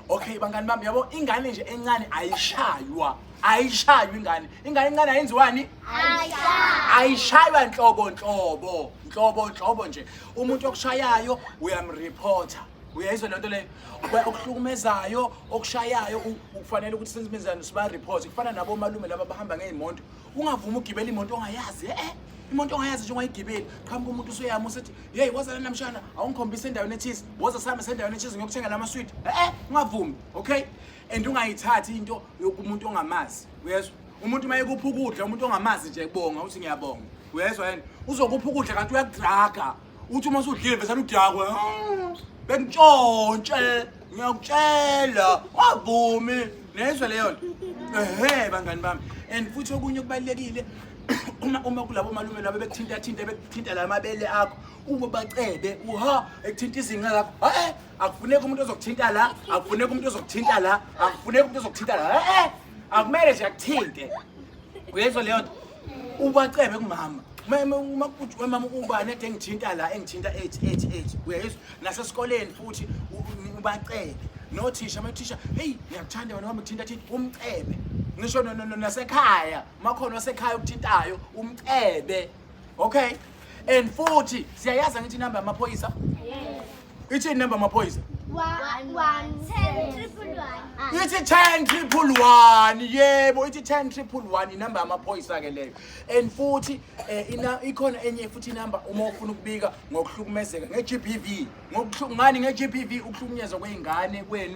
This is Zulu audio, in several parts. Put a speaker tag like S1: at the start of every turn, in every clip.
S1: Okay bangani bami yabo ingane nje encane ayishaywa ayishaywa ingane ingane encane ayenziwani ayishaywa ayishaywa nhlobo nhlobo nhlobo nhlobo nje umuntu okushayayo uyamreporter uyayizwa lento leyo okuhlukumezayo okushayayo ukufanele ukuthi senzimenzani siba report kufana nabo malume laba bahamba ngeyimoto ungavumi ugibela imoto ongayazi eh imoto ongayazi nje ungayigibeli qhamuka umuntu usuyama usethi yeyi woza lana mshana awungikhombise endaweni ethize woza sihamba sendaweni ethize ngiyokuthenga la maswidi e-e ungavumi okay and ungayithathi into yokumuntu ongamazi uyezwa umuntu uma yekupha ukudla umuntu ongamazi nje bonga uthi ngiyabonga uyezwa yena uzokupha ukudla kanti uyakudraga uthi uma sudlile vesane udakwe bengitshontshe ngiyakutshela wavumi nezwe leyo nto ehe bangani bami and futhi okunye okubalulekile uma uma kulabo malume labo bekuthinta thinta bekuthinta la mabele akho uma bacebe uha ekuthinta izinqa lakho hayi akufuneki umuntu ozokuthinta la akufuneki umuntu ozokuthinta la akufuneki umuntu ozokuthinta la eh akumele nje akuthinte uyezwa leyo nto ubacebe kumama mama ubani ade engithinta la engithinta ethi ethi ethi uyayizwa nasesikoleni futhi ubacebe nothisha amathisha heyi ngiyakuthanda wena wami kuthinta thinta umcebe ngisho nasekhaya makhona wasekhaya okuthintayo umcebe okay And futhi siyayazi ngithi number yamaphoyisa? Yes. Ithi number yamaphoyisa? 110 ithi 10 triple 1 yebo ithi 10 triple 1 inamba yamaphoyisa ke leyo and futhi eh, ina ikhona enye futhi inamba uma ufuna ukubika ngokuhlukumezeka ngeGBV ngokuhlungani ngeGBV ukuhlukunyezwa kweingane kwenu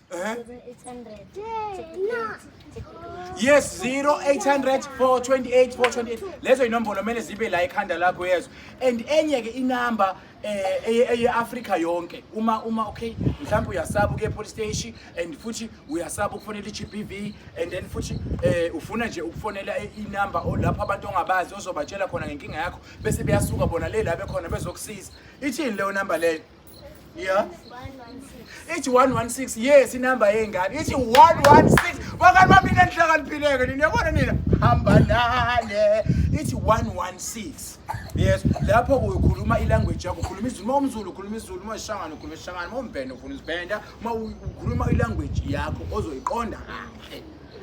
S1: Uh-huh. Yes 0800 428 428 lezo inombolo kumele zibe la ekhanda lakho yezo and enye ke inamba eh eye Africa yonke uma uma okay mhlawumbe uyasaba ukuye police station and futhi uyasaba ukufonela iGBV and then futhi eh ufuna nje ukufonela inamba lapho abantu ongabazi ozobatshela khona ngenkinga yakho bese beyasuka bona le la bekhona bezokusiza ithini leyo number leyo Yeah.
S2: ithi 116
S1: yes inamba yengane ithi 116 bakani bami nina nihlakaniphileke nina yabona nina hamba nale ithi 116 yes lapho ukhuluma ilanguage yakho ukhuluma izulu uma umzulu ukhuluma izulu uma isishangane ukhuluma isishangane uma umbhenda ukhuluma isibhenda uma ukhuluma ilanguage yakho ozoyiqonda kahle